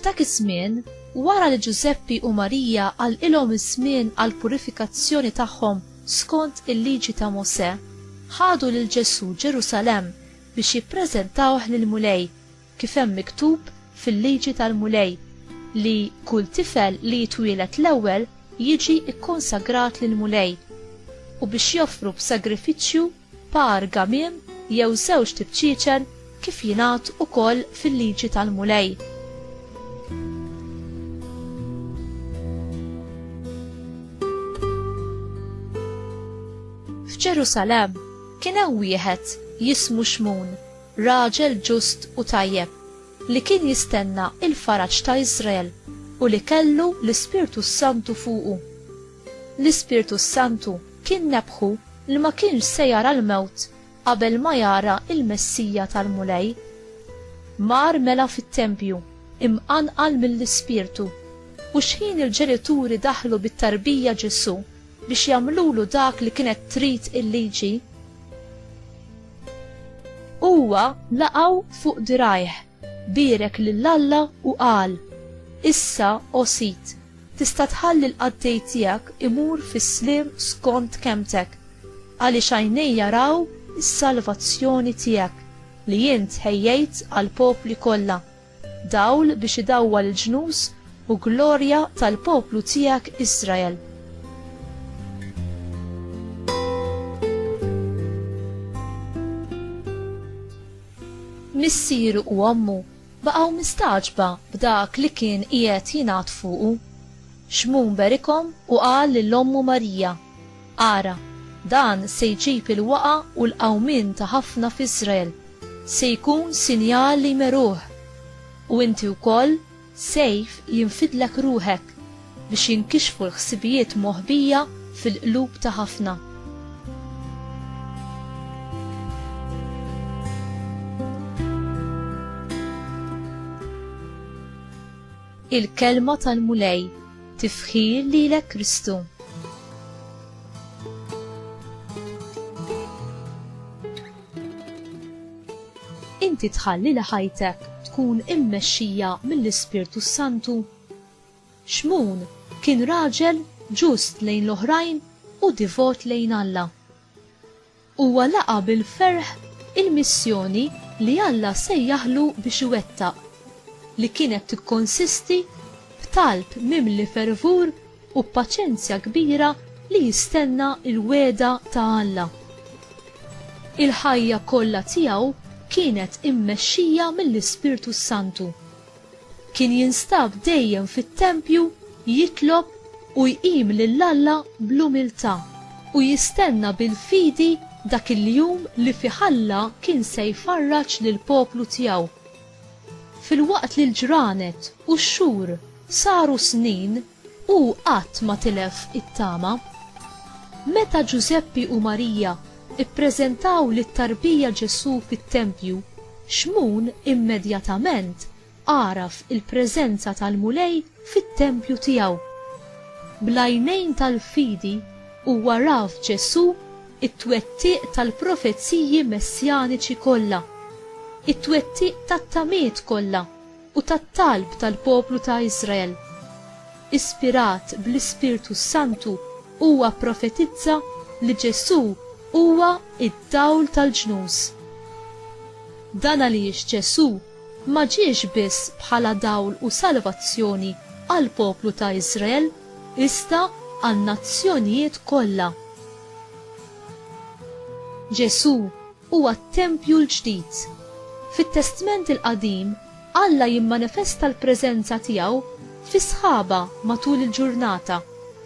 F'dak iż-żmien, wara li Ġużeppi u Marija għal ilhom iż-żmien għal purifikazzjoni tagħhom skont il-liġi ta' Mosè, ħadu lil Ġesù Ġerusalemm biex jippreżentawh lill-Mulej kif hemm miktub fil-Liġi tal-Mulej, li kull tifel li jitwieled l-ewwel jiġi kkonsagrat lill-Mulej, u biex joffru b'sagrifiċċju par gamiem jew żewġt tibċiċen kif jingħad ukoll fil-Liġi tal-Mulej. F'Ġerusalemm kien hemm wieħed jismu Xmun, raġel ġust u tajjeb, li kien jistenna l-faraġ ta' Iżrael u li kellu l-Ispirtu s-Santu fuqu. L-Ispirtu s-Santu kien nebbħu li ma kienx se jara l-mewt qabel ma jara l-Messija tal-Mulej. Mar mela fit-tempju, imqanqal mill-Ispirtu, u xħin il-ġenituri daħlu bit-tarbija Ġesù, biex jagħmlulu dak li kienet trid il-liġi, huwa laqgħu fuq dirgħajh, bierek lil Alla u qal, Issa, o sid, tista' tħalli l-qaddej tiegħek imur fis-sliem skont kelmtek, għaliex għajnejja raw is-salvazzjoni tiegħek li int ħejjejt għall-popli kollha. Dawl biex idawwal il-ġnus, u glorja tal-poplu tiegħek Israel. Missieru u ommu baqgħu mistagħġba b'dak li kien qiegħed jingħad fuqu. Xmun berikhom u qal lil ommu Marija, Ara, dan se jġib il-waqgħa u l-qawmien ta' ħafna f'Iżrael, se jkun sinjal li jmeruh. U inti wkoll, sejf, jinfidlek ruħek, biex jinkixfu l-ħsibijiet moħbija fil-qlub ta' ħafna. Il-Kelma tal-Mulej, Tifħir lilek Kristu. Inti tħalli li ħajtek tkun immexxija mill-Ispirtu s-Santu? Xmun kien raġel ġust lejn l-oħrajn u divot lejn Alla. Huwa laqa' bil-ferħ il-missjoni li Alla sejjaħlu biex iwettaq, li kienet tikkonsisti f'talb mimli fervur u b'paċenzja kbira li jistenna l-wegħda ta' Alla. Il-ħajja kollha tiegħu kienet immexxija mill-Ispirtu s-Santu. Kien jinstab dejjem fit-tempju jitlob u jqim lil Alla bl-umiltà u jistenna bil-fidi dak il-jum li fih Alla kien se jfarraġ lill-poplu tiegħu. Filwaqt li l-ġranet u x-xhur saru snin, Hu qatt ma tilef it-tama. Meta Ġużeppi u Marija ppreżentaw lit-tarbija Ġesù fit-tempju, Xmun immedjatament għaraf il-preżenza tal-Mulej fit-tempju tiegħu. Bl-għajnejn tal-fidi huwa ra f'Ġesù t-twettiq tal-profeziji messjaniċi kollha, it-twettiq tat-tamiet kollha u tat-talb tal-poplu ta' Iżrael. Ispirat bl-Ispirtu s-Santu huwa pprofetizza li Ġesù huwa d-dawl tal-ġnus. Dan għaliex Ġesù ma ġiex biss bħala dawl u salvazzjoni għall-poplu ta' Iżrael iżda għan-nazzjonijiet kollha. Ġesù huwa t-tempju l-ġdid. Fit-Testment il-Qadim, Alla jimmanifesta l-preżenza tiegħu fi sħaba matul il-ġurnata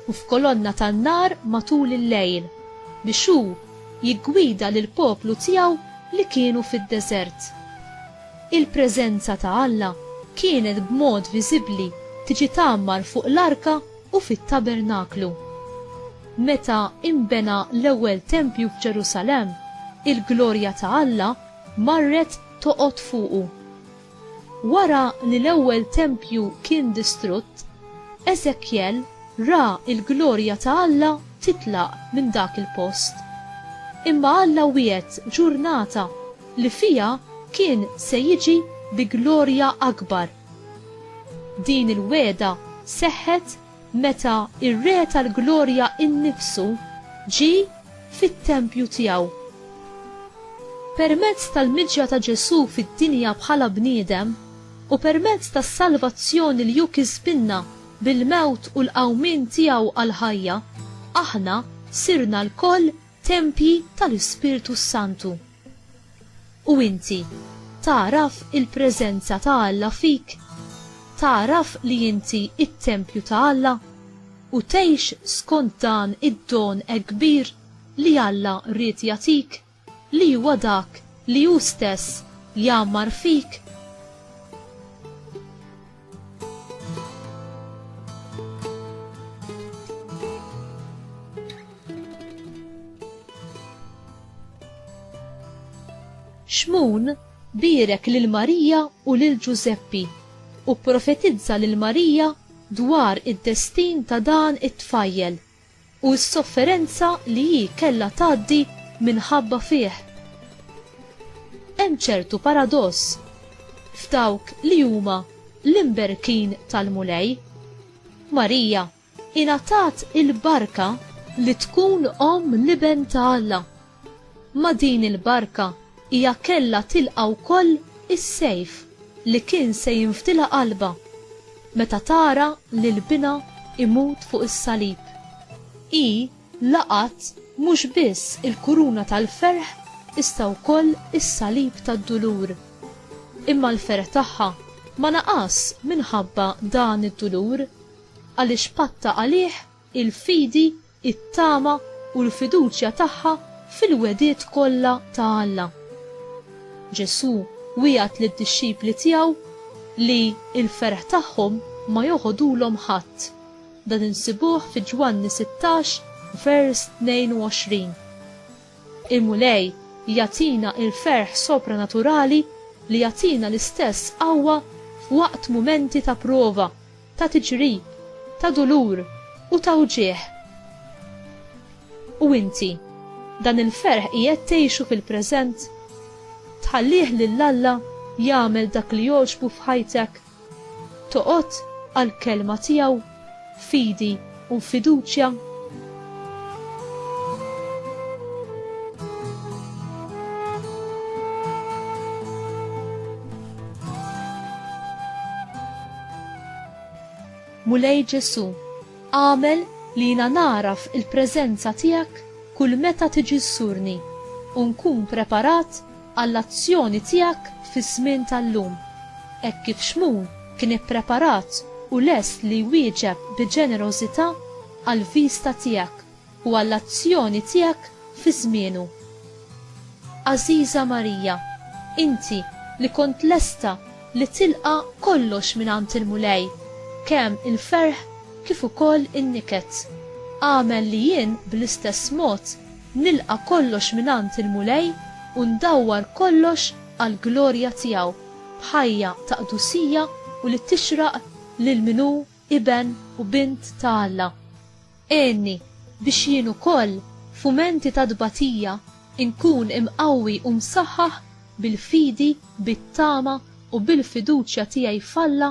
u f'kolonna tan-nar matul il-lejl, biex hu jiggwida lill-poplu tiegħu li kienu fid-deżert. Il-preżenza ta' Alla kienet b'mod viżibbli tiġi tgħammar fuq l-arka u fit-tabernaklu. Meta inbena l-ewwel tempju f'Ġerusalemm, il-glorja ta' Alla marret toqgħod fuqu. Wara li l-ewwel tempju kien distrutt, Eżekjel ra l-glorja ta' Alla titlaq minn dak il-post. Imma Alla wiegħed ġurnata li fiha kien se jiġi bi glorja akbar. Din il-wegħda seħħet meta r-Re tal-Glorja nnifsu ġie fit-tempju tiegħu. Permezz tal-miġja ta' Ġesù fid-dinja bħala bniedem u permezz tas-salvazzjoni li hu kisbilna bil-mewt u l-qawmien tiegħu għall-ħajja, aħna sirna lkoll tempji tal-Ispirtu s-Santu. U inti, tagħraf il-preżenza ta' Alla fik? Tagħraf li inti t-tempju ta' Alla? U tgħix skont dan id-don hekk kbir li Alla ried jagħtik, li huwa dak li hu stess jgħammar fik? Xmun bierek lil Marija u lil Ġużeppi u pprofetizza lil Marija dwar id-destin ta' dan it-tfajjel. u s-sofferenza li hi kellha tgħaddi minħabba fih. Hemm ċertu paradoss f'dawk li huma l-imberkin tal-Mulej. Marija ingħatat il-barka li tkun omm l-Iben ta' Alla Ma' din il-barka hija kellha tilqa' wkoll is-sejf li kien se jinfdilha qalbha meta tara lil binha imut fuq is-salib. Hi laqgħet mhux biss il-kuruna tal-ferħ iżda wkoll is-salib tad-dulur. Imma l-ferħ tagħha ma naqas minħabba dan id-dulur għaliex patta għalih il-fidi it-tama u l-fiduċja tagħha fil-wegħdiet kollha ta' Alla. Ġesù wiegħed lid-dixxipli tiegħu li l-ferħ tagħhom ma joħodulhom ħadd, dan insibuh fi Ġwanni 16 vers 22. Il-Mulej jagħtina l-ferħ sopranaturali li jagħtina l-istess qawwa f'waqt mumenti ta' prova. ta' tiġrib, ta' dulur u ta' wġigħ. U inti, dan il-ferħ qiegħed tgħixu fil-preżent? Tħallih lil Alla jagħmel dak li jogħġbu f'ħajtek? Toqgħod għall-Kelma tiegħu b'fidi? u fiduċja? Mulej Ġesù, agħmel li jiena nagħraf il-preżenza tiegħek kull meta tiġi żżurni u nkun preparat għall-azzjoni tiegħek fiż-żmien tal-lum, hekk kif Xmun kien ippreparat u lest li jwieġeb bi ġenerożità għall-viżta tiegħek u għall-azzjoni tiegħek fi żmienu. Għażiża Marija, inti li kont lesta li tilqa' kollox mingħand il-Mulej, kemm il-ferħ kif ukoll in-niket, agħmel li jien bl-istess mod Nilqa' kollox mingħand il-Mulej u ndawwar kollox għall-glorja tiegħu, b'ħajja ta' qdusija u li tixraq lil min hu iben u bint ta' Alla. Għinni biex jien ukoll, f'mumenti ta' tbatija, inkun imqawwi u msaħħaħ bil-fidi, bit-tama u bil-fiduċja tiegħi f'Alla,